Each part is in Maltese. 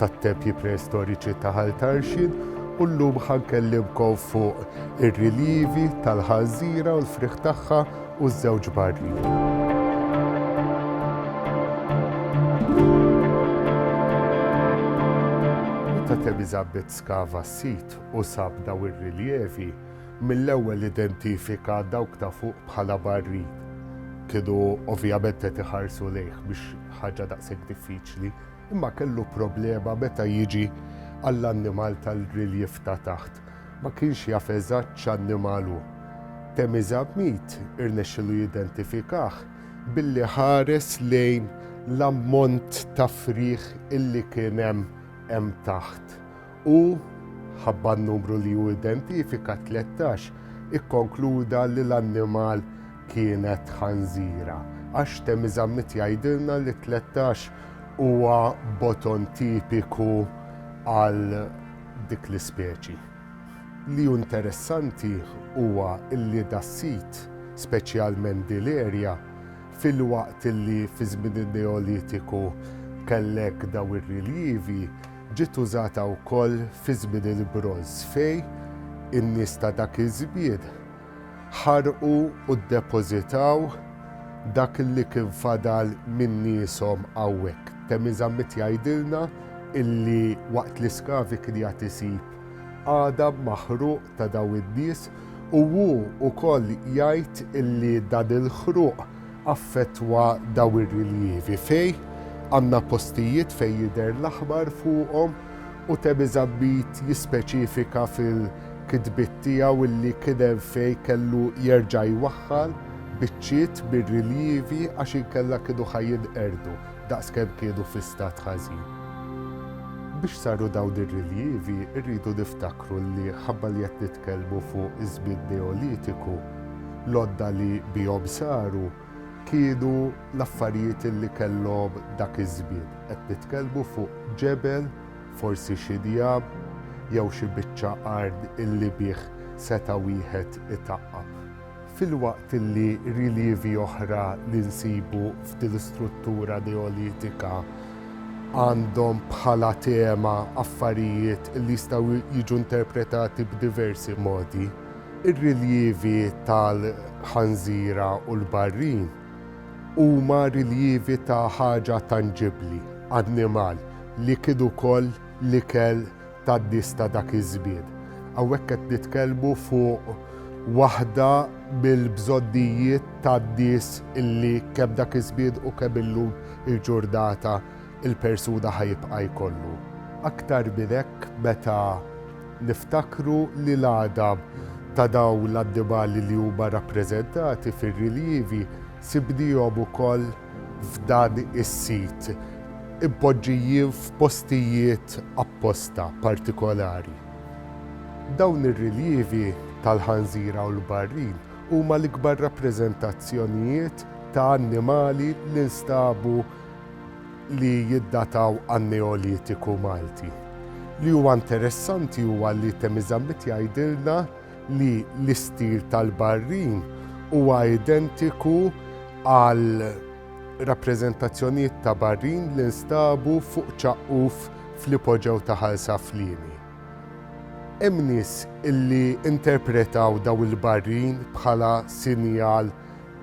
tat-tempji preistoriċi ta' Ħal Tarxien u llum ħa nkellimkom fuq ir-riljivi tal-Ħanżira u l-frieħ tagħha u ż-żewġ barri. Elizabeth skava s-sit u sab daw ir-riljevi mill-ewwel identifika dawk ta' fuq bħala barri. Kienu ovvjament qed iħarsu lejh biex ħaġa daqshekk diffiċli Imma kellu problema meta jiġi għall-annimal tal-riljev ta' taħt. Ma kienx jaf eżatt x'annimal hu. Temizab Mead irnexxielu jidentifikah billi ħares lejn l-ammont ta' frieħ illi kien hemm hemm taħt u, ħabba n-numru li hu identifika, 13, ikkonkluda li l-annimal kienet ħanżira. Għax Temi Zammit jgħidilna li 13 huwa boton tipiku għal dik l-ispeċi. Li hu interessanti huwa li das-sit, speċjalment din l-erja, filwaqt li fi żmien in-Neolitiku kellek dawn ir-riljivi, Ġiet użata wkoll fi żmien il-Bronż fejn in-nies ta' dak iż-żmien ħarqu u ddepożitaw dak li kien fadal minn nieshom hawnhekk. Temi Zammit jgħidilna illi waqt li Skavi kien jgħad isib għadam maħruq ta' dawn in-nies u hu wkoll jgħid li dan il-ħruq affettwa dawn ir-riljevi fejn għandna postijiet fejn jidher l-aħmar fuqhom u Temi Zammit jispeċifika fil-kitbiet tiegħu li kien hemm fejn kellu jerġa' jwaħħal biċċiet mir-riljevi għax inkella kienu ħa jinqerdu. Daqskemm kienu fi stat ħażin. Biex saru dawn ir-rilievi rridu niftakru li ħabba li qed nitkellmu fuq iż-żmien Neolitiku, l-għodda li bihom saru kienu l-affarijiet li kellhom dak iż-żmien. Qed nitkellmu fuq ġebel, forsi xi njam, jew xi biċċa art illi bih seta' wieħed itaqqab. Filwaqt li rilievi oħra li nsibu f'din l-istruttura neolitika għandhom bħala tema affarijiet li jistgħu jiġu interpretati b'diversi modi, ir-rilievi tal-ħanżira u l-barrin huma rilievi ta' ħaġa tanġibbli, annimal, li kien ukoll l-ikel tgħaddiex ta' dak iż-żmien. Hawnhekk qed nitkellmu fuq waħda mill-bżonnijiet tan-nies li kemm dak iż-żmien u kemm illum il-ġurnata l-persuna ħa jibqa' jkollu. Aktar minn hekk meta niftakru li l-għadam ta' dawn l-annimali li huma rappreżentati fir-riljivi sibnihom ukoll f'dan is-sit impoġġijin f'postijiet apposta partikolari. Dawn ir-riljevi tal-ħanżira u l-barrin huma l-ikbar rappreżentazzjonijiet ta' annimali li nstabu li jiddataw għan-Neolitiku Malti. Li huwa interessanti huwa li Themizammit jgħidilna li l-istil tal-barrin huwa identiku għal rappreżentazzjonijiet ta' barrin li nstabu fuq ċaqquf fl-ipoġew ta' Ħal Saflieni. Hemm nies li interpretaw dawn il-barrin bħala sinjal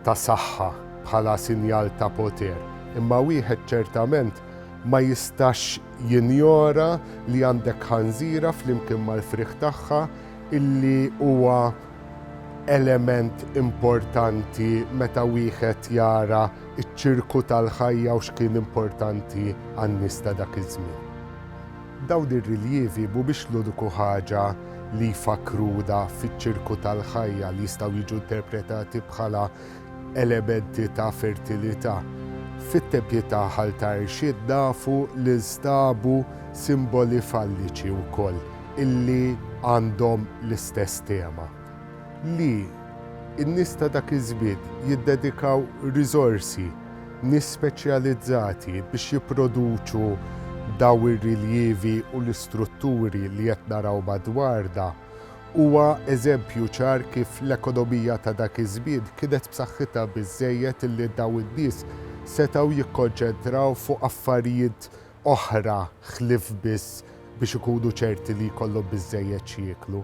ta' saħħa, bħala sinjal ta' poter, imma wieħed ċertament ma jistax jinjora li għandek ħanżira flimkien mal-frieħ tagħha illi huwa element importanti meta wieħed jara ċ-ċirku tal-ħajja u x'kien importanti għan-nies ta' dak iż-żmien. Dawn ir-riljevi mhumiex l-uniku ħaġa li jfakkruna fiċ-ċirku tal-ħajja li jistgħu jiġu interpretati bħala Elementi ta' fertilità, Fit-tempji ta' Ħal ta' Irxid nafu li nstabu simboli falliċi wkoll illi għandhom l-istess tema, li n-nies ta' dak iż-żmien jiddedikaw riżorsi, nies speċjalizzati biex jipproduċu dawn ir-riljevi u l-istrutturi li qed naraw madwarna Huwa eżempju ċar kif l-ekonomija ta' dak iż-żmien kienet b'saħħitha biżżejjed illi dawn in-nies setgħu jikkonċentraw fuq affarijiet oħra ħlief biss biex ikunu ċerti li jkollhom biżżejjed x'jieklu.